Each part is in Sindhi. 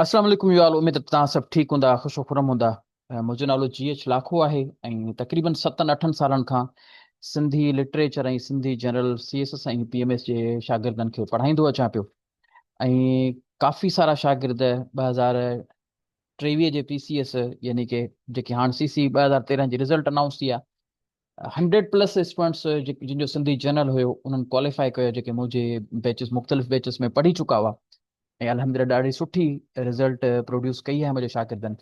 السلام عليڪم يوال اميد ته توهان سڀ ٺيڪ هوندا خوش و خرم هوندا منهنجو نالو جي ايڇ لاکو آهي ۽ تقريبن ستن اٺن سالن کان Sindhi literature ۽ Sindhi general C S S ۽ P M S جي شاگردن کي پڙهائيندو اچان پيو ۽ ڪافي سارا شاگرد ٻه هزار ٽيويهه جي پي سي ايس يعني ڪي جيڪي هاڻ سي سي ٻه هزار تيرنهن جي رزلٽ انائونس ٿي آ هنڊريڊ پلس اسٽوڊنٽس جن جو سنڌي جنرل هيو انهن ڪواليفائي ڪيو جيڪي منهنجي بيچز مختلف بيچز ۾ پڙهي چڪا هئا ۽ الحمدلله ڏاڍي سٺي رزلٽ پروڊيوس ڪئي آهي منهنجي شاگردن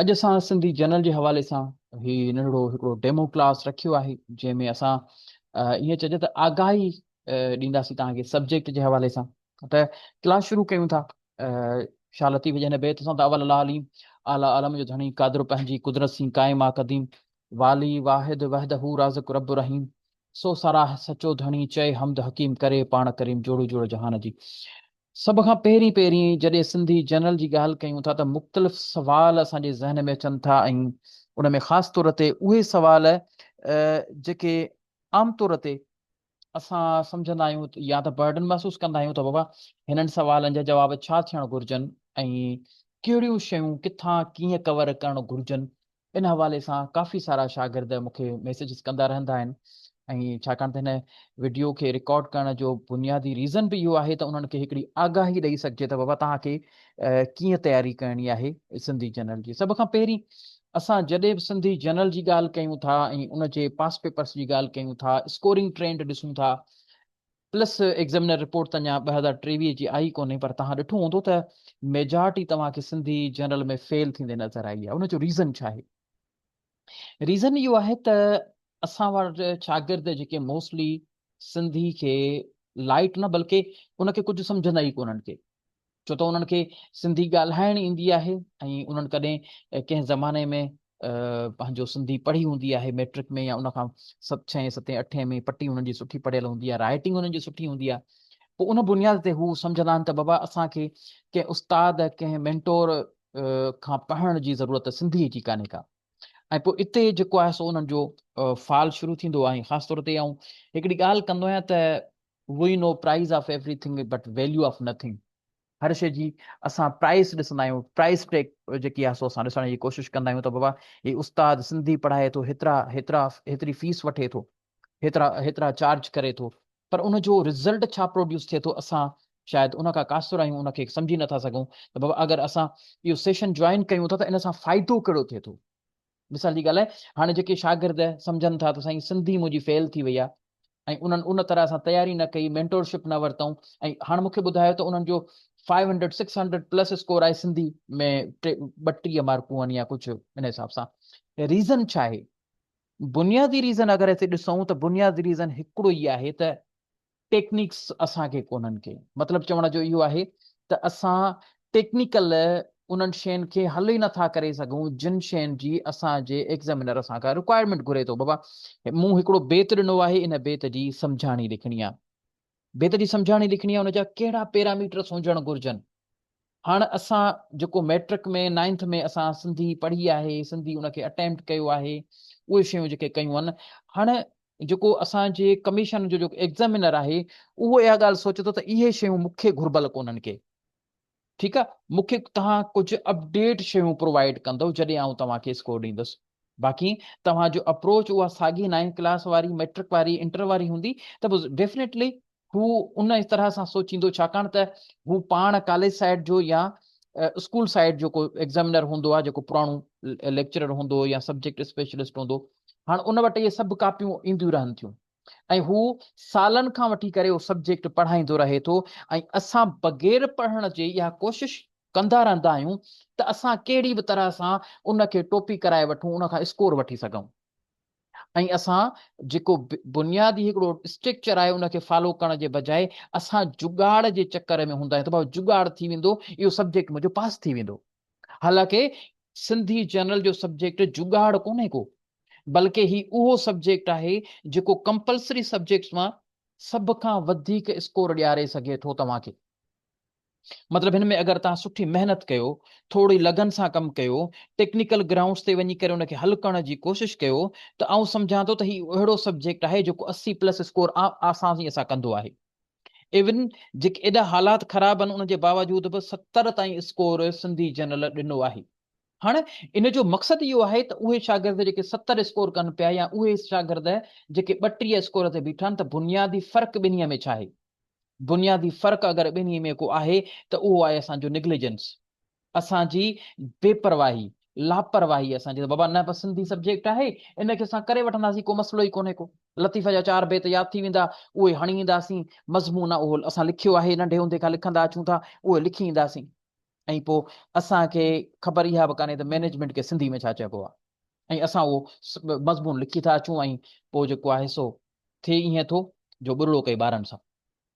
اڄ اسان سنڌي جنرل جي حوالي سان هي ننڍڙو هڪڙو ڊيمو ڪلاس رکيو آهي جنهن ۾ اسان ائين چئجي ته آگاهي ڏينداسين توهان کي سبجيڪٽ جي حوالي سان ته ڪلاس شروع ڪيون ٿا شاھ لطيف جي هن بيت سان ته اول الله عليم اعليٰ عالم جو ڌڻي قادر پنهنجي قدرت سين قائم آ قديم والي واحد وحد هو رازق رب رحيم سو سراهه سچو ڌڻي چئي حمد حڪيم ڪري پاڻ ڪريم جوڙو جوڙو جهان جي سڀ کان پهرين پهرين جڏهن سنڌي جنرل جي ڳالهه ڪيون ٿا ته مختلف سوال اسان جي ذهن ۾ اچن ٿا ۽ ان ۾ خاص طور تي اهي سوال جيڪي عام طور تي اسان سمجهندا آهيون يا ته برڊن محسوس ڪندا آهيون ته بابا هنن سوالن جا جواب ڇا ٿيڻ گهرجن ۽ ڪهڙيون شيون ڪٿان ڪيئن ڪور ڪرڻ گهرجن ان حوالي سان ڪافي سارا شاگرد مون کي ميسيجز ڪندا رهندا آهن ۽ ڇاڪاڻ ته هن وڊيو کي رڪارڊ ڪرڻ جو بنيادي ريزن به اهو آهي ته انهن کي هڪڙي آگاهي ڏئي سگهجي ته بابا توهان کي ڪيئن تياري ڪرڻي آهي سنڌي جنرل جي سڀ کان پهرين اسان جڏهن به سنڌي جنرل جي ڳالهه ڪيون ٿا ۽ ان جي پاس پيپرس جي ڳالهه ڪيون ٿا اسڪورنگ ٽرينڊ ڏسون ٿا پلس ايگزامينر رپورٽ ته اڃا ٻه هزار ٽيويهه جي آئي ڪونهي پر توهان ڏٺو هوندو ته ميجارٽي توهان کي سنڌي جنرل ۾ فيل ٿيندي نظر آئي آهي ان جو ريزن ڇا آهي ريزن اهو آهي ته اسان وٽ شاگرد جيڪي موسٽلي سنڌي کي لائٽ نه بلڪه ان کي ڪجهه سمجهندا ئي ڪونهن ڪي ڇو ته انهن کي سنڌي ڳالهائڻ ايندي آهي ۽ انهن ڪڏهن ڪنهن زماني ۾ پنهنجو سنڌي پڙهي هوندي آهي ميٽرڪ ۾ يا ان کان ڇهين ستين اٺين ۾ پٽي انهن جي سٺي پڙهيل هوندي آهي رائيٽنگ انهن جي سٺي هوندي آهي پوء ان بنياد تي هو سمجهندا آهن ته بابا اسان کي ڪنهن استاد ڪنهن مينٽور کان پڙهڻ جي ضرورت سنڌي جي ڪانهي ڪا ۽ پوء اتي جيڪو آهي سو انهن جو فال شروع ٿيندو آهي خاص طور تي آئون هڪڙي ڳالهه ڪندو آهيان ته we know price of every thing but value of nothing هر شي جي اسان پرائز ڏسندا آهيون پرائز ٽيڪ جيڪي آهي سو اسان ڏسڻ جي ڪوشش ڪندا آهيون ته بابا هي استاد سنڌي پڙهائي ٿو هيترا هيترا هيتري فيس وٺي ٿو هيترا هيترا چارج ڪري ٿو پر ان جو رزلٽ ڇا پروڊيوس ٿئي ٿو اسان شايد ان کان قاصر آهيون ان کي سمجهي نٿا سگهون ته بابا اگر اسان اهو سيشن جوائن ڪيون ٿا ته ان سان فائدو ڪهڙو ٿئي ٿو مثال جي ڳالهه آهي هاڻي جيڪي شاگرد سمجهن ٿا ته سائين سنڌي منهنجي فيل ٿي وئي آهي ۽ انهن ان طرح سان تياري نه ڪئي مينٽورشپ نه ورتائون ۽ هاڻ مونکي ٻڌايو ته انهن جو five hundred six hundred plus score آهي سنڌي ۾ ٻه ٽيهه مارڪون آهن يا ڪجهه ان حساب سان ريزن ڇا آهي بنيادي ريزن اگر اسين ڏسون ته بنيادي ريزن هڪڙو ئي آهي ته ٽيڪنڪس اسان کي ڪونهن ڪي مطلب چوڻ جو اهو آهي ته اسان ٽيڪنيڪل انهن شين کي حل ئي نٿا ڪري سگهون جن شين جي اسان جي ايگزامينر اسان کان رڪوائرمينٽ گهري ٿو بابا مون هڪڙو بيت ڏنو آهي ان بيت جي سمجهاڻي لکڻي آهي بيت جي سمجهاڻي لکڻي آهي ان جا ڪهڙا پيراميٽرس هجڻ گهرجن هاڻ اسان جيڪو مئٽرڪ ۾ نائنٿ ۾ اسان سنڌي پڙهي آهي سنڌي ان کي اٽيمپٽ ڪيو آهي اهي شيون جيڪي ڪيون آهن هاڻ جيڪو اسان جي ڪميشن جو جيڪو ايگزامينر آهي اهو اها ڳالهه سوچي ٿو ته اهي شيون مون کي گهربل ڪونهن ڪي ٺيڪ آهي مون کي توهان ڪجهه اپڊيٽ شيون پرووائيڊ ڪندو جڏهن آئون توهان کي اسڪور ڏيندس باقي توهان جو اپروچ اها ساڳي نائنٿ ڪلاس واري مئٽرڪ واري انٽر واري هوندي ته ڊيفنيٽلي هو ان طرح سان سوچيندو ڇاڪاڻ ته هو پاڻ ڪاليج سائيڊ جو يا اسڪول سائيڊ جو ڪو ايگزامينر هوندو آهي جيڪو پراڻو ليڪچرر هوندو يا سبجيڪٽ اسپيشلسٽ هوندو هاڻ ان وٽ اهي سڀ ڪاپيون اينديون رهن ٿيون ۽ هو سالن کان وٺي ڪري اهو سبجيڪٽ پڙهائيندو رهي ٿو ۽ اسان بغير پڙهڻ جي اها ڪوشش ڪندا رهندا آهيون ته اسان ڪهڙي به طرح سان ان کي ٽوپي ڪرائي وٺون ان کان اسڪور وٺي سگهون ۽ اسان جيڪو بنيادي هڪڙو اسٽريڪچر آهي ان کي فالو ڪرڻ جي بجاء اسان جگاڙ جي چڪر ۾ هوندا آهيون ته بابا جگاڙ ٿي ويندو اهو سبجيڪٽ منهنجو پاس ٿي ويندو حالانڪه سنڌي جنرل جو سبجيڪٽ جگاڙ ڪونهي ڪو بلڪه هي اهو سبجيڪٽ آهي جيڪو ڪمپلسري سبجيڪٽس مان سڀ کان وڌيڪ اسڪور ڏياري سگهي ٿو توهان کي مطلب هن ۾ اگر توهان سٺي محنت ڪيو، ٿورڙي لگن سان ڪم ڪيو، ٽيڪنيڪل گرائونڊز تي وڃي ڪري ان کي حل ڪرڻ جي ڪوشش ڪيو ته آئون سمجهان ٿو ته هي اهڙو سبجيڪٽ آهي جيڪو اسي پلس اسڪور عام آسانيء سان ڪندو آهي. ايون جيڪي ايڏا حالات خراب آهن ان جي باوجود به ستر تائين اسڪور سنڌي جنرل ڏنو آهي. هاڻ ان جو مقصد اهو آهي ته اهي شاگرد جيڪي ستر اسڪور ڪن پيا يا اهي شاگرد جيڪي ٻٽيهه اسڪور تي بيٺا آهن ته بنيادي فرق ٻنهي ۾ ڇا آهي؟ بنيادي فرق اگر ٻنهي ۾ ڪو آهي ته اهو آهي اسان جو نگليجنس، اسان جي بي پرواهي، لاپرواهي اسان جي ته بابا نه بس سنڌي سبجيڪٽ آهي ان کي اسان ڪري وٺنداسين ڪو مسئلو ئي ڪونهي ڪو لطيفه جا چار بيت ياد ٿي ويندا اهي هڻي اينداسين مضمون اهو اسان لکيو آهي ننڍي هوندي کان لکندا اچون ٿا اهي لکي اينداسين ۽ پوء اسان کي خبر اها به ڪانهي ته مينيجمينٽ کي سنڌي ۾ ڇا چئبو آهي ۽ اسان اهو مضمون لکي ٿا اچون ۽ پوء جيڪو آهي سو ٿئي ائين ٿو جو ٻرڙو ڪئي ٻارن سان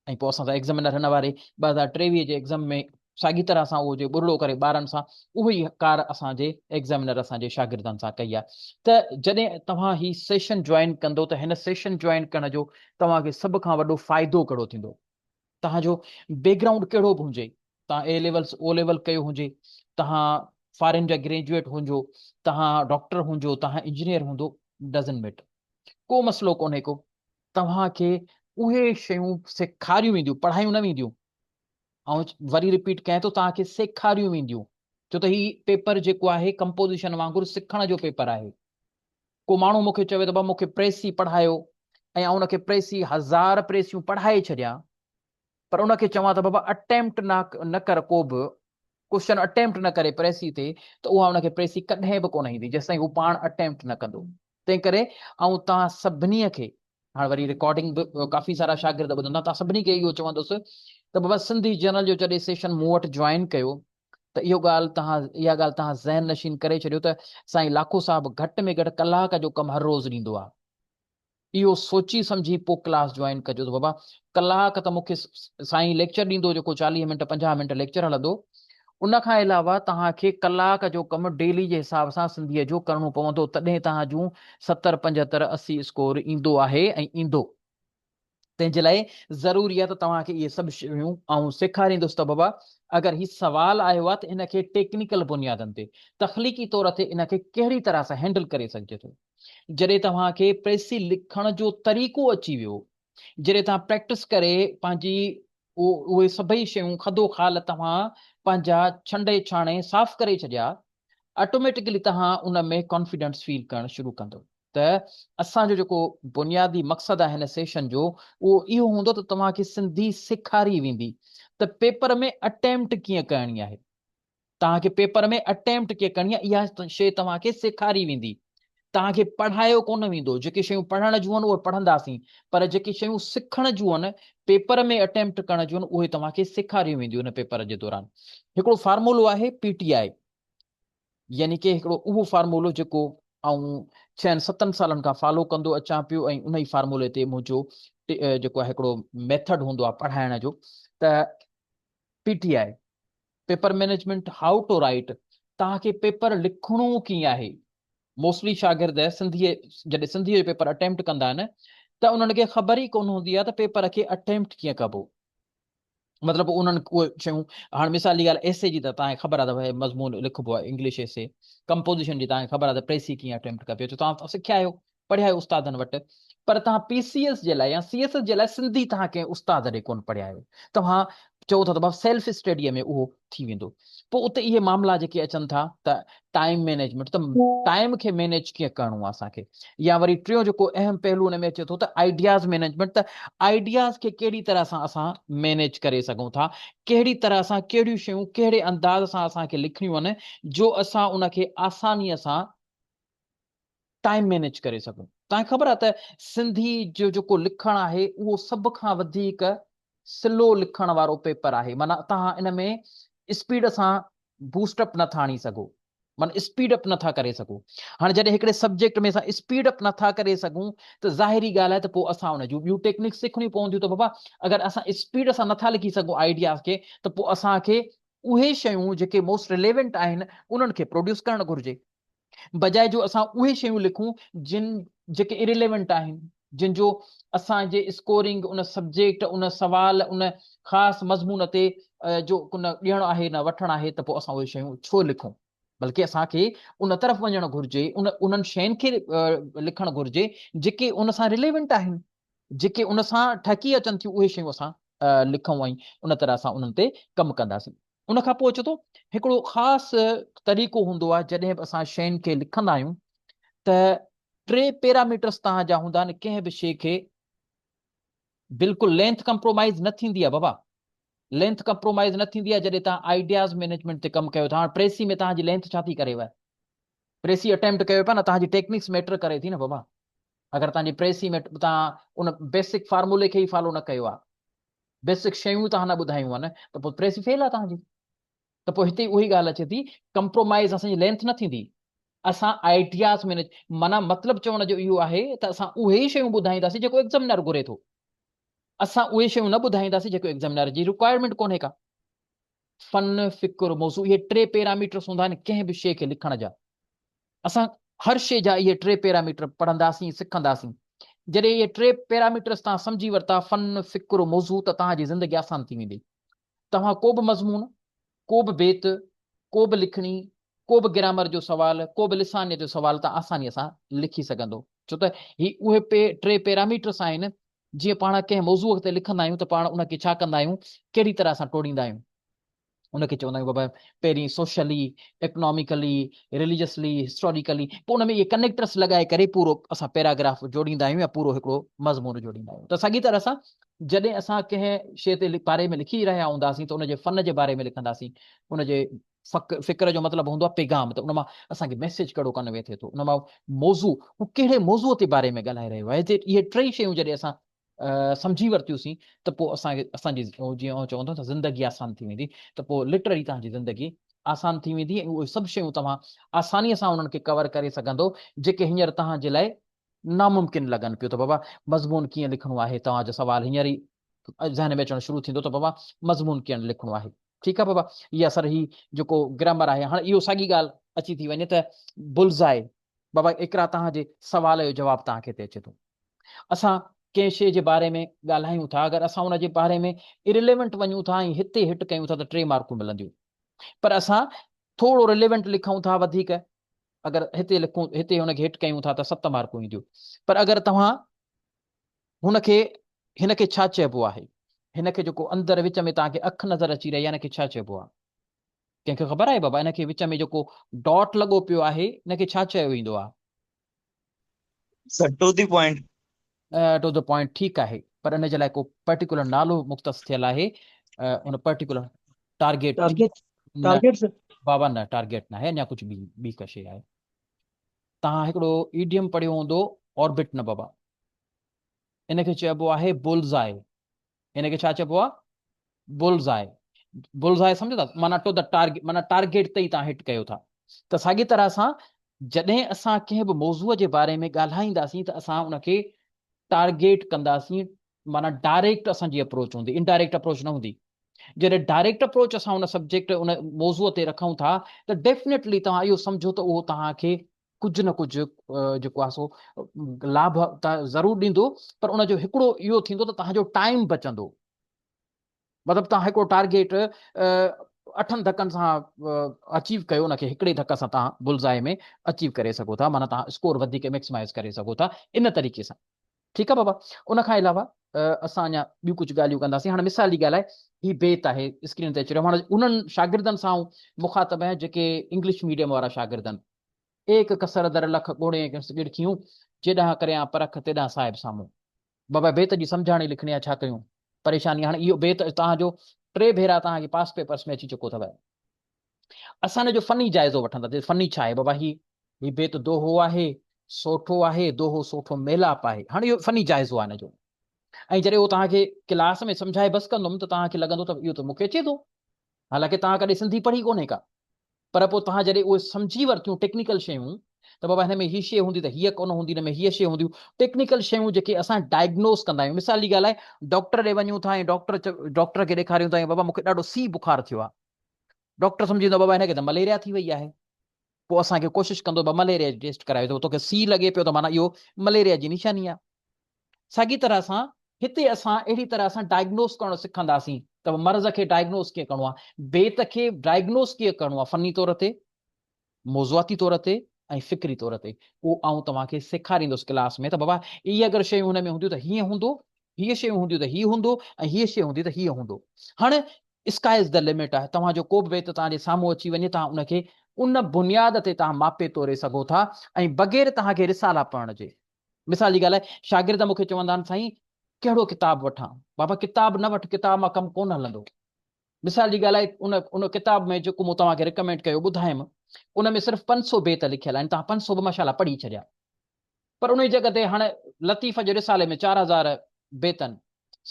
۽ پوء اسان سان ايگزامينر هن واري ٻه هزار ٽيويهه جي ايگزام ۾ ساڳي طرح سان اهو جي ٻرڙو ڪري ٻارن سان اهو ئي ڪار اسان جي ايگزامينر اسان جي شاگردن سان ڪئي آهي ته جڏهن توهان هي سيشن جوائن ڪندو ته هن سيشن جوائن ڪرڻ جو توهان کي سڀ کان وڏو فائدو ڪهڙو ٿيندو؟ توهان جو بيڪ گرائونڊ ڪهڙو به هجي، توهان اي ليولس او ليول ڪيو هجي، توهان فارين جا گريجوئيٽ هجو، توهان ڊاڪٽر هجو، توهان انجنيئر هجو ڊزنٽ ميٽر ڪو مسئلو ڪونهي ڪو، توهان کي اهي شيون سيکاريون وينديون پڙهايون نه وينديون، آئون وري رپيٽ ڪيان ٿو توهان کي سيکاريون وينديون، ڇو ته هي پيپر جيڪو آهي ڪمپوزيشن وانگر سکڻ جو پيپر آهي، ڪو ماڻهو مون کي چوي ته بابا مون کي پريسي پڙهايو ۽ آئون ان کي پريسي هزار پريسيون پڙهائي ڇڏيان پر ان کي چوان ته بابا اٽيمپٽ نه نه ڪر ڪو به ڪوشچن اٽيمپٽ نه ڪري پريسي تي ته اها ان کي پريسي ڪڏهن به ڪونه ايندي جيستائين هو پاڻ اٽيمپٽ نه ڪندو تنهن ڪري آئون توهان سڀني کي هاڻ وري رڪارڊنگ به ڪافي سارا شاگرد ٻڌندا توهان سڀني کي اهو چوندس ته بابا سنڌي جنرل جو جڏهن سيشن مون وٽ جوائن ڪيو ته اهو ڳالهه تهان اها ڳالهه تهان ذهن نشين ڪري ڇڏيو ته سائين لاکو صاحب گهٽ ۾ گهٽ ڪلاڪ جو ڪم هر روز ڏيندو آهي. اهو سوچي سمجهي پوء ڪلاس جوائن ڪجو ته بابا ڪلاڪ ته مون کي سائين ليڪچر ڏيندو جيڪو چاليهه منٽ پنجاهه منٽ ليڪچر هلندو ان کان علاوه تهان کي ڪلاڪ جو ڪم ڊيلي جي حساب سان سنڌيء جو ڪرڻو پوندو تڏهن تهان جون ستر پنجهتر اسي اسڪور ايندو آهي ۽ ايندو. تنهن جي لاء ضروري آهي ته توهان کي اهي سڀ شيون آئون سيکاريندس ته بابا اگر هي سوال آيو آهي ته ان کي ٽيڪنيڪل بنيادن تي تخليقي طور تي ان کي ڪهڙي طرح سان هينڊل ڪري سگهجي ٿو. جڏهن توهان کي پريسي لکڻ جو طريقو اچي ويو، جڏهن توهان پريڪٽس ڪري پنهنجي اهي سڀئي شيون خدو خال توهان پنهنجا ڇنڊي ڇاڻي صاف ڪري ڇڏيا، آٽوميٽڪلي توهان ان ۾ ڪانفيڊنس فيل ڪرڻ شروع ڪندو. ته اسان جو جيڪو بنيادي مقصد آهي هن سيشن جو اهو اهو هوندو ته توهان کي سنڌي سيکاري ويندي ته پيپر ۾ اٽيمپٽ ڪيئن ڪرڻي آهي توهان کي پيپر ۾ اٽيمپٽ ڪيئن ڪرڻي آهي اها شيء توهان کي سيکاري ويندي توهان کي پڙهايو ڪونه ويندو جيڪي شيون پڙهڻ جون آهن اهي پڙهنداسين پر جيڪي شيون سکڻ جون آهن پيپر ۾ اٽيمپٽ ڪرڻ جون آهن اهي توهان کي سيکاريون وينديون هن پيپر جي دوران هڪڙو فارمولو آهي پي ٽي آء يعني ڪي هڪڙو اهو فارمولو جيڪو آئون ڇهن ستن سالن کان فالو ڪندو اچان پيو ۽ انهي فارمولي تي منهنجو جيڪو آهي هڪڙو ميٿڊ هوندو آهي پڙهائڻ جو ته P T I paper management how to write توهان کي پيپر لکڻو ڪيئن آهي موسٽلي شاگرد سنڌي جڏهن سنڌي جو پيپر اٽيمپٽ ڪندا آهن ته انهن کي خبر ئي ڪون هوندي آهي ته پيپر کي اٽيمپٽ ڪيئن ڪبو مطلب انهن اهي شيون هاڻ مثال جي ڳالهه ايسي جي ته توهان کي خبر آهي ته هي مضمون لکبو آهي انگلش ايسي ڪمپوزيشن جي توهان کي خبر آهي ته پريسي ڪيئن اٽيمپٽ ڪبي اچو توهان سکيا آهيو پڙهيا آهيو استادن وٽ پر توهان پي سي ايس جي لاء يا سي ايس ايس جي لاء سنڌي توهان ڪنهن استاد ڏي ڪون پڙهيا آهيو توهان چئو ٿا ته بابا سيلف اسٽڊيء ۾ اهو ٿي ويندو پوء اتي اهي معاملا جيڪي اچن ٿا ته ٽائيم مينيجمينٽ ته ٽائيم کي مينيج ڪيئن ڪرڻو آهي اسان کي يا وري ٽيون جيڪو اهم پهلو ان ۾ اچي ٿو ته آئيڊياز مينيجمينٽ ته آئيڊياز کي ڪهڙي طرح سان اسان مينيج ڪري سگهون ٿا ڪهڙي طرح سان ڪهڙيون شيون ڪهڙي انداز سان اسان کي لکڻيون آهن جو اسان ان کي آسانيء سان ٽائيم مينيج ڪري سگهون. توهان کي خبر آهي ته سنڌي جو جيڪو لکڻ آهي اهو سڀ کان وڌيڪ سلو لکڻ وارو پيپر آهي معنيٰ توهان ان ۾ اسپيڊ سان بوسٽ اپ نه ٿا آڻي سگهو معنيٰ اسپيڊ اپ نه ٿا ڪري سگهو هاڻي جڏهن هڪڙي سبجيڪٽ ۾ اسان اسپيڊ اپ نه ٿا ڪري سگهون ته ظاهري ڳالهه آهي ته پوء اسان ان جون ٻيون ٽيڪنڪس سکڻيون پونديون ته بابا اگر اسان اسپيڊ سان نه ٿا لکي سگهون آئيڊياز کي ته پوء اسان کي اهي شيون جيڪي موسٽ رليونٽ آهن انهن کي پروڊيوس ڪرڻ گهرجي بجاء جو اسان اهي شيون لکون جن جيڪي Irrelevant آهن جن جو اسان جي اسڪورنگ ان سبجيڪٽ ان سوال ان خاص مضمون تي جو ڪن ڏيڻ آهي نه وٺڻ آهي ته پوء اسان اهي شيون ڇو لکون بلڪه اسان کي ان طرف وڃڻ گهرجي ان انهن شين کي لکڻ گهرجي جيڪي ان سان Relevant آهن جيڪي ان سان ٺهڪي اچن ٿيون اهي شيون اسان لکون ۽ ان طرح اسان انهن تي ڪم ڪنداسين ان کان پوء اچي ٿو هڪڙو خاص طريقو هوندو آهي جڏهن به اسان شين کي لکندا آهيون ته ٽي پيراميٽرس تهان جا هوندا آهن ڪنهن به شي کي بلڪل لينٿ ڪمپرومائز نه ٿيندي آهي بابا لينٿ ڪمپرومائز نه ٿيندي آهي جڏهن تهان آئيڊياز مينيجمنٽ تي ڪم ڪيو ٿا هاڻ پريسي ۾ تهان جي لينٿ ڇا ٿي ڪريو پريسي اٽيمپٽ ڪيو پيا نه تهان جي ٽيڪنڪس ميٽر ڪري ٿي نه بابا اگر تهان جي پريسي ۾ تهان ان بيسڪ فارمولي کي ئي فالو نه ڪيو آهي بيسڪ شيون توهان نه ٻڌايون آهن ته پوء پريس ئي فيل آهي توهان جي ته پوء هتي اهي ڳالهه اچي ٿي ڪمپرومائيز اسان جي لينٿ نه ٿيندي اسان آئيڊياز ۾ معنيٰ مطلب چوڻ جو اهو آهي ته اسان اهي ئي شيون ٻڌائينداسين جيڪو ايگزامينر گهري ٿو اسان اهي شيون نه ٻڌائينداسين جيڪو ايگزامينر جي رڪوائرمينٽ ڪونهي ڪا فن فڪر موضوع اهي ٽي پيراميٽرس هوندا آهن ڪنهن به شيء کي لکڻ جا اسان هر شيء جا اهي ٽي پيراميٽر پڙهنداسين، سکنداسين. جڏهن اهي ٽي پيراميٽرس توهان سمجهي ورتا، فن، فڪر، موضوع، ته توهان جي زندگي آسان ٿي ويندي. توهان ڪو به مضمون، ڪو به بيت، ڪو به لکڻي، ڪو به گرامر جو سوال، ڪو به لسانيت جو سوال ته آسانيء سان لکي سگهندو. ڇو ته هي اهي ٽي پيراميٽرس آهن، جيئن پاڻ ڪنهن موضوع تي لکندا آهيون ته پاڻ ان کي ڇا ڪندا آهيون، ڪهڙي طرح سان ٽوڙيندا آهيون. ان کي چوندا آهيون بابا پهرين سوشلي، اڪناميڪلي، رليجسلي، هسٽاريڪلي پوء ان ۾ اهي ڪنيڪٽرس لڳائي ڪري پورو اسان پيراگراف جوڙيندا آهيون يا پورو هڪڙو مضمون جوڙيندا آهيون ته ساڳي طرح سان جڏهن اسان ڪنهن شيء تي باري ۾ لکي رهيا هونداسين ته ان جي فن جي باري ۾ لکنداسين ان جي فڪر جو مطلب هوندو آهي پيغام ته ان مان اسان کي ميسيج ڪهڙو ڪن ويٿي ٿو ان مان موضوع هو ڪهڙي موضوع تي باري ۾ ڳالهائي رهيو آهي اهي ٽئي شيون جڏهن اسان سمجهي ورتيوسين ته پوء اسان کي اسان جي جيئن اوهان چوندو ته زندگي آسان ٿي ويندي ته پوء لٽرلي توهان جي زندگي آسان ٿي ويندي ۽ اهي سڀ شيون توهان آساني سان انهن کي ڪور ڪري سگهندو جيڪي هينئر توهان جي لاء ناممڪن لڳن پيو ته بابا مضمون ڪيئن لکڻو آهي توهان جو سوال هينئر ئي ذهن ۾ اچڻ شروع ٿيندو ته بابا مضمون ڪيئن لکڻو آهي ٺيڪ آهي بابا يا سر هي جيڪو گرامر آهي هاڻي اهو ساڳي ڳالهه اچي ٿي وڃي ته بلزائي بابا اقرا توهان جي سوال جو جواب توهان کي تي اچي ٿو اسان ڪنهن شيء جي باري ۾ ڳالهايون ٿا اگر اسان ان جي باري ۾ Irrelevant وڃون ٿا ۽ هتي هٽ ڪيون ٿا ته ٽي مارڪون ملنديون پر اسان ٿورو Relevant لکون ٿا وڌيڪ اگر هتي لکون هتي ان کي هٽ ڪيون ٿا ته ست مارڪون اينديون پر اگر توهان هن کي هن کي ڇا چئبو آهي هن کي جيڪو اندر وچ ۾ توهان کي اک نظر اچي رهي آهي ان کي ڇا چئبو آهي ڪنهن کي خبر آهي بابا ان کي وچ ۾ جيڪو ڊاٽ لڳو پيو آهي ان کي ڇا چيو ويندو آهي؟ To the point. To the point ٺيڪ آهي پر ان جي لاء ڪو پرٽيڪولر نالو مختص ٿيل آهي ان پرٽيڪولر ٽارگيٽ ٽارگيٽ بابا نه ٽارگيٽ ناهي اڃا ڪجهه ٻي ٻي ڪا شيء آهي تان هڪڙو ايڊيم پڙهيو هوندو آربٽ نه بابا ان کي چئبو آهي بولزائي هن کي ڇا چئبو آهي بلز آئي بلز آئي سمجهو ٿا معنيٰ ٽو دا ٽارگيٽ معنيٰ ٽارگيٽ تي تان هٽ ڪيو ٿا ته ساڳي طرح سان جڏهن اسان ڪنهن به موضوع جي باري ۾ ڳالهائينداسين ته اسان ان کي ٽارگيٽ ڪنداسين معنيٰ ڊائريڪٽ اسان جي اپروچ هوندي انڊائريڪٽ اپروچ نه هوندي جڏهن ڊائريڪٽ اپروچ اسان ان سبجيڪٽ ان موضوع تي رکون ٿا ته ڊيفنيٽلي توهان اهو سمجهو ته اهو توهان کي ڪجهه نه ڪجهه جيڪو آهي سو لاڀ ته ضرور ڏيندو پر ان جو هڪڙو اهو ٿيندو ته توهان جو ٽائيم بچندو مطلب توهان هڪڙو ٽارگيٽ اٺن ڌڪن سان اچيو ڪيو ان کي هڪڙي ڌڪ سان تان بلزائي ۾ اچيو ڪري سگهو ٿا معنيٰ تان اسڪور وڌيڪ ميڪسمائز ڪري سگهو ٿا ان طريقي سان ٺيڪ آ بابا ان کان علاوه اسان اڃا ٻيون ڪجهه ڳالهيون ڪنداسين هاڻي مثال جي ڳالهه آهي هي بيت آهي اسڪرين تي اچي رهيو هاڻي انهن شاگردن سان آئون مخاطب آهيان جيڪي انگلش ميڊيم وارا شاگرد آهن ايڪ ڪسر در لک ڳوڙين ڪنس ڳڙ ٿيون جيڏانهن ڪريان پرک تيڏانهن صاحب سامهون بابا بيت جي سمجهاڻي لکڻي آ ڇا ڪيون پريشاني هاڻي اهو بيت توهان جو ٽي ڀيرا توهان جي پاس پيپرس ۾ اچي چڪو اٿو اسان هن جو فني جائزو وٺنداسين. فني ڇا آهي بابا هي؟ هي بيت دوهو آهي، سوٽو آهي، دوهو سوٽو ميلاپ آهي. هاڻي اهو فني جائزو آهي هن جو. ۽ جڏهن اهو توهان کي ڪلاس ۾ سمجهائي بس ڪندم ته توهان کي لڳندو ته اهو ته مون کي اچي ٿو. حالانڪه توهان ڪڏهن سنڌي پڙهي ڪونهي ڪا. پر پوء توهان جڏهن اهي سمجهي ورتيون ٽيڪنيڪل شيون ته بابا هن ۾ هي شي هوندي ته هيء ڪونه هوندي، هن ۾ هيء شي هونديون. ٽيڪنيڪل شيون جيڪي اسان ڊائگنوز ڪندا آهيون. مثال جي ڳالهه آهي ڊاڪٽر ڏي وڃون ٿا ۽ ڊاڪٽر ڊاڪٽر کي ڏيکاريون ٿا ۽ بابا مون کي ڏاڍو سي بخار ٿيو آهي. ڊاڪٽر سمجهيندو بابا هن کي ته مليريا ٿي وئي آهي پوء اسان کي ڪوشش ڪندو بابا مليريا جي ٽيسٽ ڪرايو ته توکي سي لڳي پيو ته معنيٰ اهو مليريا جي نشاني آهي ساڳي طرح سان هتي اسان اهڙي طرح اسان ڊائگنوز ڪرڻ سکنداسين ته مرض کي ڊائگنوز ڪيئن ڪرڻو آهي بيت کي ڊائگنوز ڪيئن ڪرڻو آهي فني طور تي موضوعاتي طور تي ۽ فڪري طور تي اهو آئون توهان کي سيکاريندس ڪلاس ۾ ته بابا اهي اگر شيون هن ۾ هونديون ته هيئن هوندو، هيء شيون هونديون ته هيء هوندو ۽ هيء شيء هوندي ته هيء هوندو. هاڻ اسڪاء از دي لمٽ آهي، توهان جو ڪو به ويت توهان جي سامهون اچي وڃي توهان ان کي ان بنياد تي توهان ماپي توري سگهو ٿا ۽ بغير توهان کي رسالا پڙهڻ جي. مثال جي ڳالهه شاگرد مون کي چوندا آهن سائين ڪهڙو ڪتاب وٺان؟ بابا ڪتاب نه وٺ ڪتاب مان ڪم ڪونه هلندو. مثال جي ڳالهه ان ان ڪتاب ۾ جيڪو مون توهان کي رڪمينڊ ڪيو ٻڌايم ان ۾ صرف پنج سو بيت لکيل آهن توهان پنج سو به ماشاءالله پڙهي ڇڏيا پر انهي جڳهه تي هاڻ لطيف جي رسالي ۾ چار هزار بيتن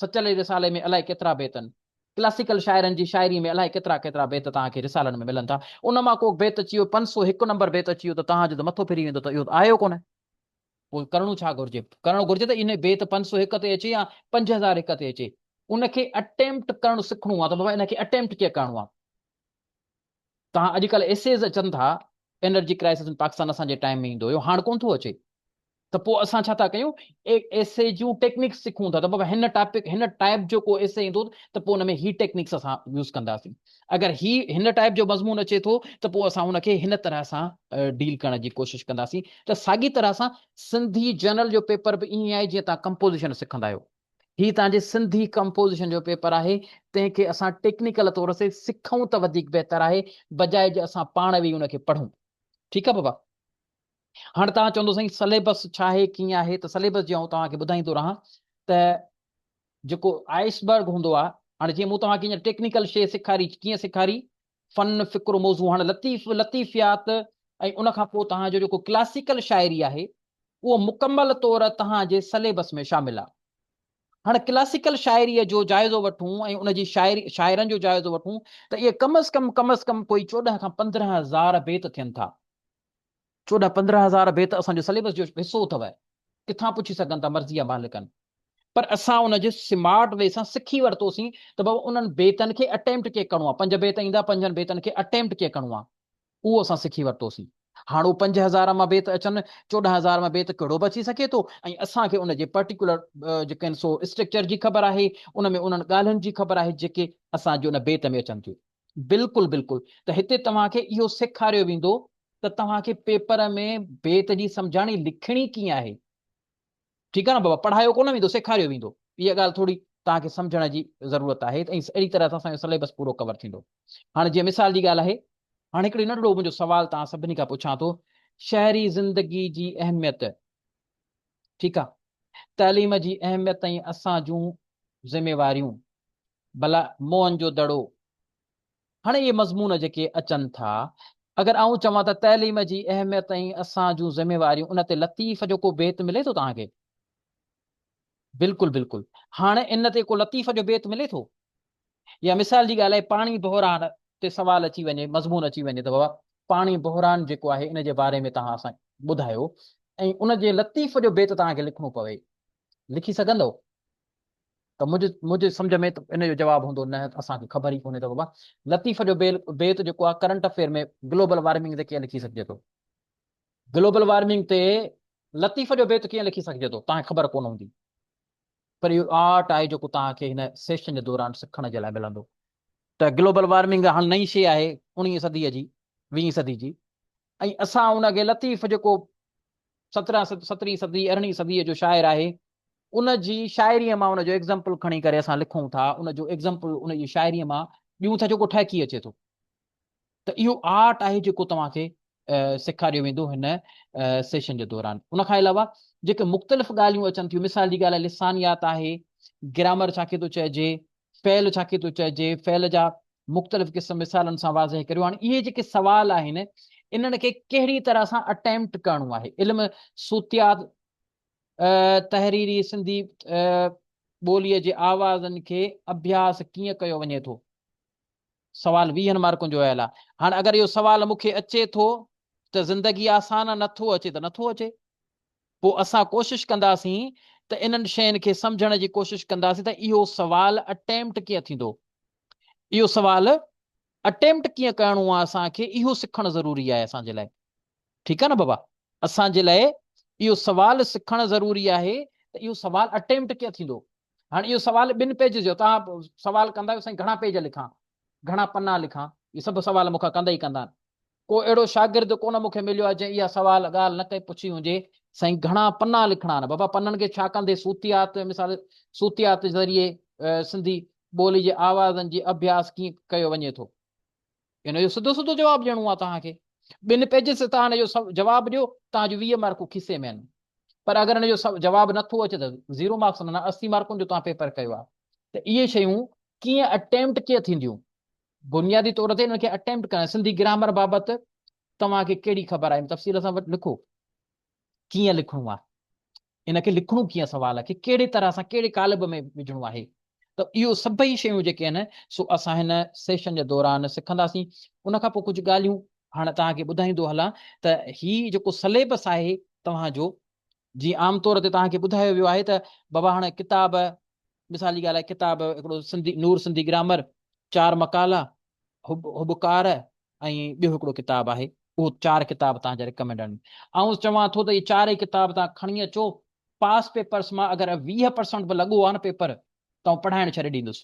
سچل جي رسالي ۾ الائي ڪيترا بيتن ڪلاسيڪل شاعرن جي شاعري ۾ الائي ڪيترا ڪيترا بيت توهان کي رسالن ۾ ملن ٿا ان مان ڪو بيت اچي ويو پنج سو هڪ نمبر بيت اچي ويو ته توهان جو ته مٿو ڦري ويندو ته اهو ته آيو ڪونه پوء ڪرڻو ڇا گهرجي؟ ڪرڻ گهرجي ته ان بيت پنج سؤ هڪ تي اچي يا پنج هزار هڪ تي اچي ان کي اٽيمپٽ ڪرڻ سکڻو آهي ته بابا ان کي اٽيمپٽ ڪيئن ڪرڻو آهي. توهان اڄڪلهه ايسيز اچن ٿا انرجي ڪرائسس ان پاڪستان اسان جي ٽائيم ۾ ايندو هيو هاڻ ڪونه ٿو اچي ته پوء اسان ڇا ٿا ڪيون ايسي جون ٽيڪنڪس سکون ٿا ته بابا هن ٽاپڪ هن ٽائيپ جو ڪو ايسي ايندو ته پوء ان ۾ هي ٽيڪنڪس اسان يوز ڪنداسين اگر هي هن ٽائيپ جو مضمون اچي ٿو ته پوء اسان ان کي هن طرح سان ڊيل ڪرڻ جي ڪوشش ڪنداسين ته ساڳي طرح سان سنڌي جنرل جو پيپر به ائين آهي جيئن تان ڪمپوزيشن سکندا آهيو هي تان جي سنڌي ڪمپوزيشن جو پيپر آهي تنهن کي اسان ٽيڪنيڪل طور سي سکون ته وڌيڪ بهتر آهي بجاء جي اسان پاڻ ويهي ان کي پڙهون ٺيڪ آهي بابا هاڻ تان چوندو سائين سليبس ڇا آهي ڪيئن آهي ته سليبس جي آئون توهان کي ٻڌائيندو رهان ته جيڪو آئس برگ هوندو آ. هاڻي جيئن مون توهان کي هينئر ٽيڪنيڪل شيء سيکاري، ڪيئن سيکاري؟ فن، فڪر، موضوع هاڻي لطيف، لطيفيات ۽ ان کان پوء توهان جو جيڪو ڪلاسيڪل شاعري آهي، اهو مڪمل طور توهان جي سليبس ۾ شامل آ. هاڻي ڪلاسيڪل شاعريء جو جائزو وٺون ۽ ان جي شاعري، شاعرن جو جائزو وٺون ته اهي ڪم از ڪم، ڪم از ڪم ڪوئي چوڏهن کان پندرهن هزار بيت ٿين ٿا. چوڏهن پندرهن هزار بيت اسان جي سليبس جو حصو اٿو، ڪٿان پڇي سگهن ٿا مرضي آ مالڪن پر اسان ان جي سمارٽ وي سان سکي ورتوسين ته بابا انهن بيتن کي اٽيمپٽ ڪيئن ڪرڻو آ پنج بيت ايندا پنجن بيتن کي اٽيمپٽ ڪيئن ڪرڻو آ اهو اسان سکي ورتوسين هاڻ اهو پنج هزار مان بيت اچن چوڏهن هزار مان بيت ڪهڙو به اچي سگهي ٿو ۽ اسان کي ان جي پرٽيڪولر جيڪن سو اسٽرڪچر جي خبر آهي ان ۾ انهن ڳالهين جي خبر آهي جيڪي اسان جي ان بيت ۾ اچن ٿيون بلڪل بلڪل ته هتي توهان کي اهو سيکاريو ويندو ته توهان کي پيپر ۾ بيت جي سمجهاڻي لکڻي ڪيئن آهي ٺيڪ آهي نه بابا پڙهايو ڪونه ويندو سيکاريو ويندو اها ڳالهه ٿوري توهان کي سمجهڻ جي ضرورت آهي ته اهڙي طرح سان اسان جو سليبس پورو ڪور ٿيندو هاڻي جيئن مثال جي ڳالهه آهي هاڻي هڪڙي ننڍڙو منهنجو سوال توهان سڀني کان پڇان ٿو شهري زندگي جي اهميت ٺيڪ آ تعليم جي اهميت ۽ اسان جون ذميواريون بلا موهن جو دڙو هاڻي اهي مضمون جيڪي اچن ٿا اگر آئون چوان ته تعليم جي اهميت ۽ اسان جون ذميواريون ان تي لطيف جو ڪو بيت ملي ٿو توهان کي؟ بلڪل بلڪل هاڻ ان تي ڪو لطيف جو بيت ملي ٿو يا مثال جي ڳالهه آهي پاڻي بحران تي سوال اچي وڃي مضمون اچي وڃي ته بابا پاڻي بحران جيڪو آهي ان جي باري ۾ توهان اسان ٻڌايو ۽ ان جي لطيف جو بيت توهان کي لکڻو پوي لکي سگهندو ته منهنجي منهنجي سمجھ ۾ ان جو جواب هوندو نه اسان کي خبر ئي ڪونهي ته بابا لطيف جو بيت جيڪو آهي ڪرنٽ افيئر ۾ گلوبل وارمنگ تي ڪيئن لکي سگهجي ٿو گلوبل وارمنگ تي لطيف جو بيت ڪيئن لکي سگهجي ٿو توهان کي خبر ڪونه هوندي پر اهو آرٽ آهي جيڪو توهان کي هن سيشن جي دوران سکڻ جي لاء ملندو ته گلوبل وارمنگ هاڻ نئين شي آهي اڻيهين صدي جي ويهين صدي جي ۽ اسان ان کي لطيف جيڪو سترهن سترهين صدي ارڙهين صدي جو شاعر آهي ان جي شاعري مان ان جو ايگزامپل کڻي ڪري اسان لکون ٿا ان جو ايگزامپل ان جي شاعري مان ڏيون ٿا جيڪو ٺهڪي اچي ٿو ته اهو آرٽ آهي جيڪو توهان کي سيکاريو ويندو هن سيشن جي دوران ان کان علاوه جيڪي مختلف ڳالهيون اچن ٿيون مثال جي ڳالهه لسانيات آهي گرامر ڇا کي ٿو چئجي فعل ڇا کي ٿو چئجي فعل جا مختلف قسم مثالن سان واضح ڪريو هاڻي اهي جيڪي سوال آهن انهن کي ڪهڙي طرح سان اٽيمپٽ ڪرڻو آهي علم صوتيات تحريري سنڌي ٻوليء جي آوازن کي اڀياس ڪيئن ڪيو وڃي ٿو سوال ويهن مارڪن جو اهل آ. هاڻ اگر اهو سوال مون کي اچي ٿو ته زندگي آسان آ، نٿو اچي ته نٿو اچي. پوء اسان ڪوشش ڪنداسين ته انهن شين کي سمجهڻ جي ڪوشش ڪنداسين ته اهو سوال Attempt ڪيئن ٿيندو. اهو سوال Attempt ڪيئن ڪرڻو آ اسان کي اهو سکڻ ضروري آهي اسان جي لاء. ٺيڪ آ نه بابا. اسان جي لاء اهو سوال سکڻ ضروري آهي ته اهو سوال Attempt ڪيئن ٿيندو. هاڻي اهو سوال ٻن پيج جو توهان سوال ڪندا آهيو سائين گهڻا پيج لکان گهڻا پنا لکان اهي سڀ سوال مون کان ڪندا ئي ڪندا آهن ڪو اهڙو شاگرد ڪونه مون کي مليو آهي جنهن اها سوال ڳالهه نه ڪئي پڇي هجي سائين گهڻا پنا لکڻا آهن بابا پنن کي ڇا ڪندي صوتيات مثال صوتيات ذريعي سنڌي ٻولي جي آوازن جي اڀياس ڪيئن ڪيو وڃي ٿو هن جو سڌو سڌو جواب ڏيڻو آهي توهان کي. ٻن پيجز تي توهان هن جو جواب ڏيو، توهان جون ويهه مارڪون کيسي ۾ آهن. پر اگر هن جو جواب نه ٿو اچي ته زيرو مارڪس معنيٰ اسي مارڪن جو توهان پيپر ڪيو آهي. ته اهي شيون ڪيئن اٽيمپٽ ڪيئن ٿينديون؟ بنيادي طور تي انهن کي اٽيمپٽ ڪرڻ، سنڌي گرامر بابت توهان کي ڪهڙي خبر آهي؟ تفصيل سان لکو. ڪيئن لکڻو آ، ان کي لکڻو ڪيئن سوال کي ڪهڙي طرح سان ڪهڙي قالب ۾ وجهڻو آهي ته اهو سڀئي شيون جيڪي آهن سو اسان هن سيشن جي دوران سکنداسين. ان کان پوء ڪجهه ڳالهيون هاڻ توهان کي ٻڌائيندو هلان ته هي جيڪو سليبس آهي توهان جو جي عام طور تي توهان کي ٻڌايو ويو آهي ته بابا هاڻ ڪتاب مثال جي ڳالهه آهي ڪتاب هڪڙو سنڌي نور سنڌي گرامر چار مقالا هب هبڪار ۽ ٻيو هڪڙو ڪتاب آهي اهو چار ڪتاب توهان جي رڪمينڊ آهن آئون چوان ٿو ته اهي چارئي ڪتاب توهان کڻي اچو پاس پيپرس مان اگر ويهه پرسنٽ به لڳو آهي نه پيپر ته آئون پڙهائڻ ڇڏي ڏيندس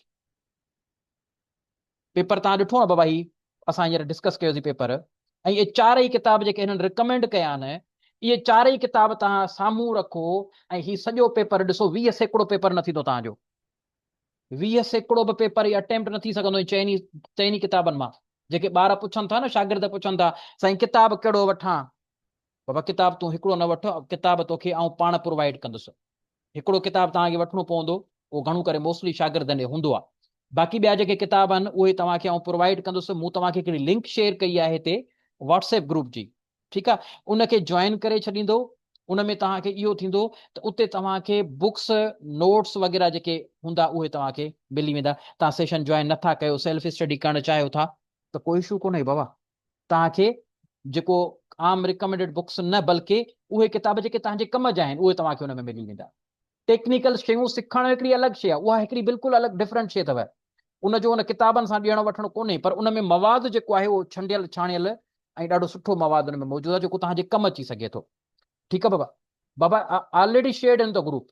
پيپر توهان ڏٺو آهي بابا هي اسان هينئر ڊسڪس ڪيوسي پيپر ۽ اهي چارئي ڪتاب جيڪي هنن رڪمينڊ ڪيا آهن اهي چارئي ڪتاب توهان سامهون رکو ۽ هي سڄو پيپر ڏسو ويهه سيڪڙو پيپر نه ٿيندو توهان جو ويهه سيڪڙو به پيپر هي اٽيمپٽ نه ٿي سگهندو چئني چئني ڪتابن مان جيڪي ٻار پڇن ٿا نه شاگرد پڇن ٿا سائين ڪتاب ڪهڙو وٺان بابا ڪتاب تون هڪڙو نه وٺ ڪتاب توکي آئون پاڻ پرووائيڊ ڪندس هڪڙو ڪتاب توهان کي وٺڻو پوندو اهو گهڻو ڪري موسٽلي شاگردن ڏي هوندو آهي باقي ٻيا جيڪي ڪتاب آهن اهي توهان کي آئون پرووائيڊ ڪندس مون توهان کي هڪڙي لنڪ شيئر ڪئي آهي هتي واٽس ايپ گروپ جي ٺيڪ آ ان کي جوائن ڪري ڇڏيندو ان ۾ توهان کي اهو ٿيندو ته اتي توهان کي بڪس نوٽس وغيره جيڪي هوندا اهي توهان کي ملي ويندا توهان سيشن جوائن نٿا ڪيو سيلف اسٽڊي ڪرڻ چاهيو ٿا ته ڪو اشو ڪونهي بابا توهان کي جيڪو عام ريڪمنڊيڊ بڪس نه بلڪه اهي ڪتاب جيڪي توهان جي ڪم جا آهن اهي توهان کي ان ۾ ملي ويندا ٽيڪنيڪل شيون سکڻ هڪڙي الڳ شيء آهي، اها هڪڙي بلڪل الڳ Different شيء اٿو. ان جو ان ڪتابن سان ڏيڻ وٺڻ ڪونهي پر ان ۾ مواد جيڪو آهي اهو ڇنڊيل ڇاڻيل ۽ ڏاڍو سٺو مواد ان ۾ موجود آهي جيڪو توهان جي ڪم اچي سگهي ٿو. ٺيڪ آهي بابا. بابا Already Shared In The Group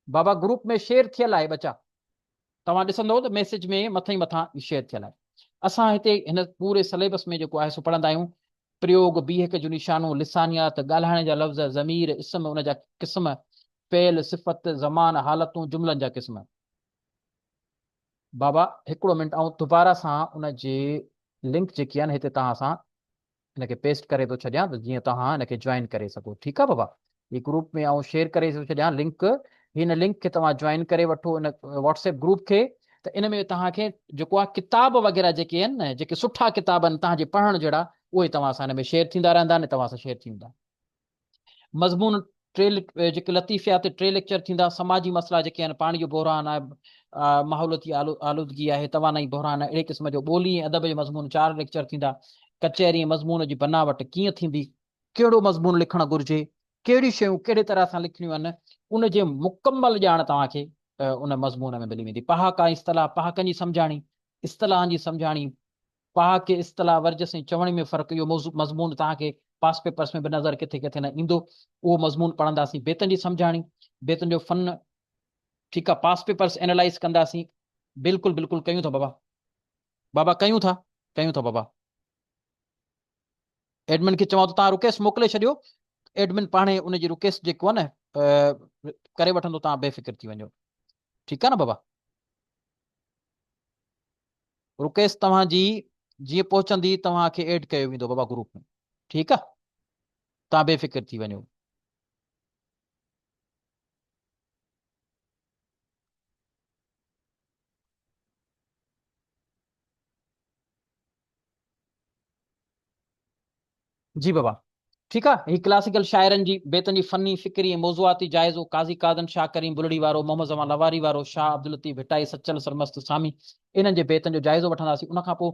بابا گروپ ۾ شيئر ٿيل آهي ٻچا. توهان ڏسندئو ته ميسيج ۾ مٿئين مٿان ئي شيئر ٿيل آهي. اسان هتي هن پوري سليبس ۾ جيڪو آهي سو پڙهندا آهيون. پريوگ، بيهڪ جون نشانون، لسانيات، ڳالهائڻ جا لفظ، ضمير، اسم، ان جا قسم، فعل، صفت، زمان، حالتون، جملن جا قسم. بابا هڪڙو منٽ آئون دوباره سان ان جي لنڪ جيڪي آهن هتي توهان سان ان کي پيسٽ ڪري ٿو ڇڏيان ته جيئن توهان ان کي جوائن ڪري سگهو ٺيڪ آهي بابا هي گروپ ۾ آئون شيئر ڪري ٿو ڇڏيان لنڪ هن لنڪ کي توهان جوائن ڪري وٺو ان واٽس ايپ گروپ کي ته ان ۾ توهان کي جيڪو آهي ڪتاب وغيره جيڪي آهن نه جيڪي سٺا ڪتاب آهن توهان جي پڙهڻ جهڙا اهي توهان سان هن ۾ شيئر ٿيندا رهندا نه توهان سان شيئر ٿي ويندا مضمون ٽي جيڪي لطيفيات ٽي ليڪچر ٿيندا سماجي مسئلا جيڪي آهن پاڻي جو بحران آهي ماحولتي آلودگي آهي توانائي بحران اهڙي قسم جو ٻولي ۽ ادب جو مضمون چار ليڪچر ٿيندا ڪچهري مضمون جي بناوٽ ڪيئن ٿيندي ڪهڙو مضمون لکڻ گهرجي ڪهڙي شيون ڪهڙي طرح سان لکڻيون آهن ان جي مڪمل ڄاڻ توهان کي ان مضمون ۾ ملي ويندي پهاڪا اصطلاح پهاڪن جي سمجهاڻي اصطلاحن جي سمجهاڻي پهاڪي اصطلاح ورجس ۽ چوڻي ۾ فرق اهو موضوع مضمون توهان کي پاس پيپرس ۾ به نظر ڪٿي ڪٿي نه ايندو اهو مضمون پڙهنداسين بيتن جي سمجهاڻي بيتن جو فن ٺيڪ آ پاس پيپرس اينالائز ڪنداسين بلڪل بلڪل ڪيون ٿا بابا بابا ڪيون ٿا ڪيون ٿا بابا ايڊمن کي چوان ٿو تان رڪيس موڪلي ڇڏيو ايڊمن پاڻي ان جي رڪيس جيڪو آ نه ڪري وٺندو تان بي فڪر ٿي وڃو ٺيڪ آ نه بابا رڪيس توهان جي جيئن پهچندي توهان کي ايڊ ڪيو ويندو بابا گروپ ۾ ٺيڪ آ توهان بي فڪر ٿي وڃو. جي بابا ٺيڪ آ هي ڪلاسيڪل شاعرن جي بيتن جي فني، فڪري ۽ موضوعاتي جائزو قاضي قادن، شاهه ڪريم بلڙي وارو، محمد زمان لواري وارو، شاهه عبداللطيف ڀٽائي، سچل سرمست سامي انهن جي بيتن جو جائزو وٺنداسين ان کان پوء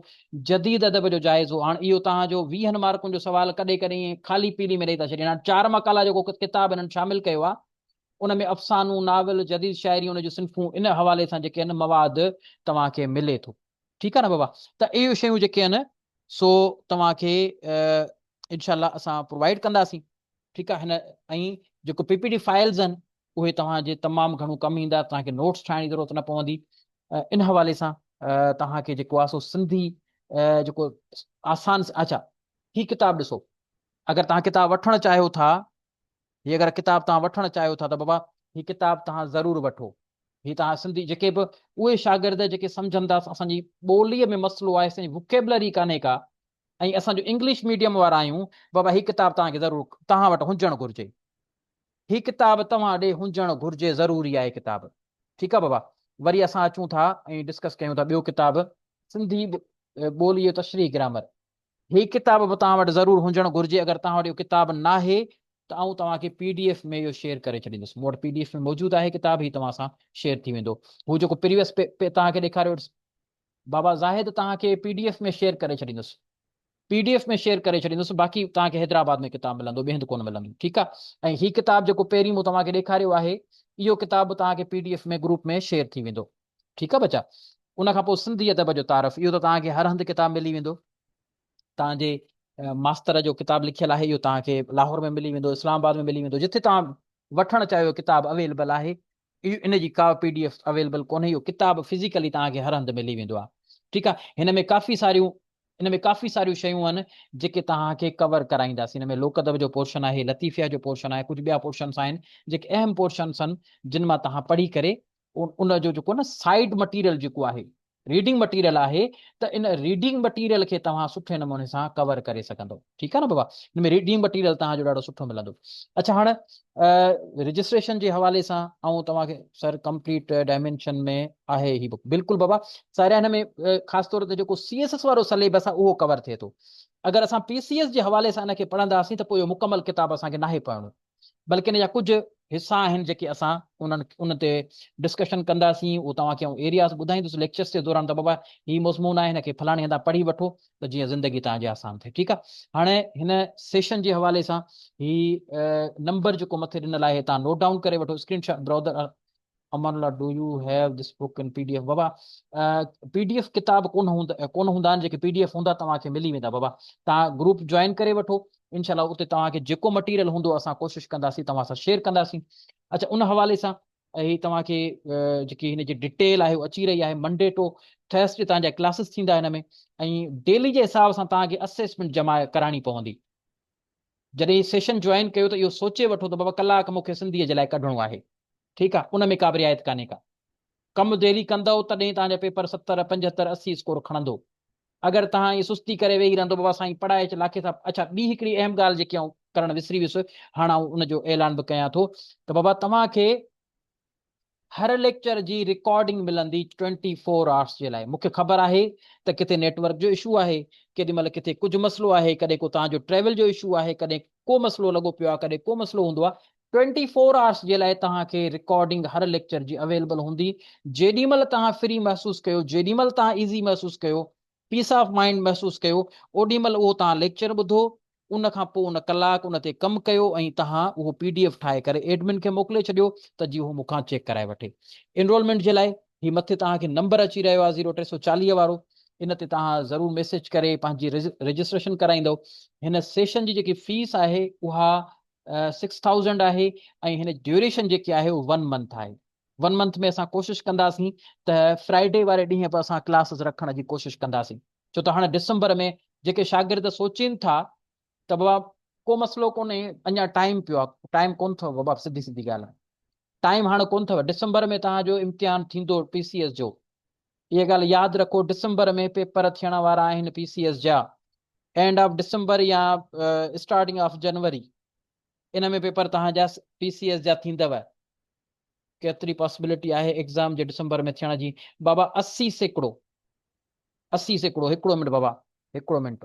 جديد ادب جو جائزو هاڻ اهو توهان جو ويهن مارڪن جو سوال ڪڏهن ڪڏهن ائين خالي پيلي ۾ ڏئي ٿا ڇڏين هاڻ چار مقالا جيڪو ڪتاب انهن شامل ڪيو آ ان ۾ افسانو، ناول، جديد شاعري ان جون صنفون ان حوالي سان جيڪي آهن مواد توهان کي ملي ٿو. ٺيڪ آ نه بابا ته اهي شيون جيڪي آهن سو توهان کي انشاء الله اسان پرووائيڊ ڪنداسين ٺيڪ آ هن ۽ جيڪو پي پي ڊي فائلز آهن اهي توهان جي تمام گهڻو ڪم ايندا توهان کي نوٽس ٺاهڻ جي ضرورت نه پوندي ان حوالي سان توهان کي جيڪو آ سو سنڌي جيڪو آسان اچا هي ڪتاب ڏسو اگر توهان ڪتاب وٺڻ چاهيو ٿا هي اگر ڪتاب توهان وٺڻ چاهيو ٿا ته بابا هي ڪتاب توهان ضرور وٺو. هي توهان سنڌي جيڪي به اهي شاگرد جيڪي سمجهن ٿا اسان جي ٻوليء ۾ مسئلو آهي اسان جي وڪيبلري ڪانهي ڪا ۽ اسان جو انگلش ميڊيم وارا آهيون بابا هي ڪتاب توهان کي ضرور توهان وٽ هجڻ گهرجي هي ڪتاب توهان ڏي هجڻ گهرجي ضروري آهي ڪتاب ٺيڪ آهي بابا وري اسان اچون ٿا ۽ ڊسڪس ڪيون ٿا ٻيو ڪتاب سنڌي ٻوليء جو تشريح گرامر هي ڪتاب به توهان وٽ ضرور هجڻ گهرجي، اگر توهان وٽ اهو ڪتاب ناهي ته آئون توهان کي پي ڊي ايف ۾ اهو شيئر ڪري ڇڏيندس، مون وٽ پي ڊي ايف ۾ موجود آهي ڪتاب، هي توهان سان شيئر ٿي ويندو. هو جيڪو پريويس پي توهان کي ڏيکاريو بابا زاهد توهان کي پي ڊي ايف ۾ شيئر ڪري ڇڏيندس، پي ڊي ايف ۾ شيئر ڪري ڇڏيندس، باقي توهان کي حيدرآباد ۾ ڪتاب ملندو، ٻئي هنڌ ڪونه ملندو، ٺيڪ آهي. ۽ هي ڪتاب جيڪو پهرين مون توهان کي ڏيکاريو آهي، اهو ڪتاب به توهان کي P D F ۾ group ۾ share ٿي ويندو. ٺيڪ آ ٻچا. ان کان پوء سنڌي ادب جو تعارف، اهو ته توهان کي هر هنڌ ڪتاب ملي ويندو. توهان جي ماستر جو ڪتاب لکيل آهي، اهو توهان کي لاهور ۾ ملي ويندو، اسلام آباد ۾ ملي ويندو، جتي توهان وٺڻ چاهيو ڪتاب اويلبل آهي. ان جي ڪا پي ڊي ايف اويلبل ڪونهي، اهو ڪتاب فزيڪلي توهان کي هر هنڌ ملي ويندو آ. ٺيڪ آ. هن ۾ ڪافي ساريون هن ۾ ڪافي ساريون شيون آهن، جيڪي توهان کي ڪور ڪرائينداسين. هن ۾ لوڪ ادب جو پورشن آهي، لطيفيا جو پورشن آهي، ڪجهه ٻيا پورشنس آهن، جيڪي اهم پورشنس آهن، جن مان توهان پڙهي ڪري ان جو جيڪو نه سائيڊ مٽيريل جيڪو آهي ريڊنگ مٽيريل آهي ته ان ريڊنگ مٽيريل کي توهان سٺي نموني سان ڪور ڪري سگهندو ٺيڪ آهي نه بابا ان ۾ ريڊنگ مٽيريل توهان جو ڏاڍو سٺو ملندو اڇا هاڻ رجسٽريشن جي حوالي سان آئون توهان کي سر ڪمپليٽ ڊائمينشن ۾ آهي هي بڪ بلڪل بابا سارا هن ۾ خاص طور تي جيڪو سي ايس ايس وارو سليبس آهي اهو ڪور ٿئي ٿو اگر اسان پي سي ايس جي حوالي سان ان کي پڙهنداسين ته پوء اهو مڪمل ڪتاب اسان کي ناهي پڙهڻو بلڪ ان جا ڪجهه حصا آهن جيڪي اسان انهن ان تي ڊسڪشن ڪنداسين اهو توهان کي آئون ايرياز ٻڌائيندس ليڪچرز جي دوران ته بابا هي مضمون آهي هن کي فلاڻي هندا پڙهي وٺو ته جيئن زندگي توهان جي آسان ٿئي ٺيڪ آهي هاڻي هن سيشن جي حوالي سان هي نمبر جيڪو مٿي ڏنل آهي تان نوٽ ڊائون ڪري وٺو screenshot browser Amanullah do you have this book in P D F بابا پي ڊي ايف ڪتاب ڪون هوندا ڪون هوندا آهن جيڪي پي ڊي ايف هوندا توهان کي ملي ويندا بابا توهان گروپ جوائن ڪري وٺو انشاء الله اتي توهان کي جيڪو مٽيريل هوندو اسان ڪوشش ڪنداسين توهان سان شيئر ڪنداسين اچھا ان حوالي سان هي توهان کي جيڪي هن جي ڊيٽيل آهي اچي رهي آهي منڊي ٽو ٿرس ڊي توهان جا ڪلاسز ٿيندا هن ۾ ۽ ڊيلي جي حساب سان توهان کي اسيسمنٽ جمع ڪرائڻي پوندي جڏهن سيشن جوائن ڪيو ته اهو سوچي وٺو ته بابا ڪلاڪ مون کي سنڌيء جي لاء ڪڍڻو آهي. ٺيڪ آهي، ان ۾ ڪا به رعايت ڪانهي ڪا. ڪم ديلي ڪندؤ تڏهن توهان جا پيپر ستر، پنجهتر، اسي اسڪور کڻندو. اگر توهان ائين سستي ڪري ويهي رهندو بابا سائين پڙهائي اچ لاکي صاحب اڇا ٻي هڪڙي اهم ڳالهه جيڪي آئون ڪرڻ وسري ويس هاڻ آئون ان جو اعلان به ڪيان ٿو ته بابا توهان کي هر ليڪچر جي رڪارڊنگ ملندي ٽوئنٽي فور آرس جي لاء مونکي خبر آهي ته ڪٿي نيٽ ورڪ جو اشو آهي ڪيڏي مهل ڪٿي ڪجهه مسئلو آهي ڪڏهن ڪو توهان جو ٽريول جو اشو آهي ڪڏهن ڪو مسئلو لڳو پيو آهي ڪڏهن ڪو مسئلو هوندو آهي ٽوئنٽي فور آرس جي لاء توهان کي رڪارڊنگ هر ليڪچر جي اويلبل هوندي جيڏي مهل توهان فري محسوس ڪيو جيڏي مهل توهان ايزي محسوس ڪيو پيس آف مائنڊ محسوس ڪيو، اوڏي مھل اھو توھان ليڪچر ٻڌو، ان کان پوء ان ڪلاڪ ان تي ڪم ڪيو ۽ توھان اھو پي ڊي ايف ٺاھي ڪري ايڊمن کي موڪلي ڇڏيو ته جي اھو مون کان چيڪ ڪرائي وٺي. انرولمينٽ جي لاء ھي مٿي توھان کي نمبر اچي رھيو آھي زيرو ٽي سؤ چاليهه وارو ان تي توھان ضرور ميسيج ڪري پنھنجي رجسٽريشن ڪرائيندؤ. ھن سيشن جي جيڪي فيس آھي اھا سڪس ٿائوزنڊ آھي ۽ ھن جي ڊيوريشن جيڪي آھي اھو ون منٿ آھي. ون منٿ ۾ اسان ڪوشش ڪنداسين ته فرائيڊي واري ڏينهن به اسان ڪلاسز رکڻ جي ڪوشش ڪنداسين ڇو ته هاڻ ڊسمبر ۾ جيڪي شاگرد سوچين ٿا ته بابا ڪو مسئلو ڪونهي اڃا ٽائيم پيو آهي ٽائيم ڪون اٿو بابا سڌي سڌي ڳالهه ٽائيم هاڻ ڪون اٿو ڊسمبر ۾ توهان جو امتحان ٿيندو پي سي ايس جو اها ڳالهه ياد رکو ڊسمبر ۾ پيپر ٿيڻ وارا آهن پي سي ايس جا اينڊ آف ڊسمبر يا اسٽارٽنگ آف جنوري ان ۾ پيپر توهان جا پي سي ايس جا ٿيندو. ڪيتري پاسبلٽي آهي ايگزام جي ڊسمبر ۾ ٿيڻ جي؟ بابا اسي سيڪڙو اسي سيڪڙو هڪڙو منٽ بابا هڪڙو منٽ.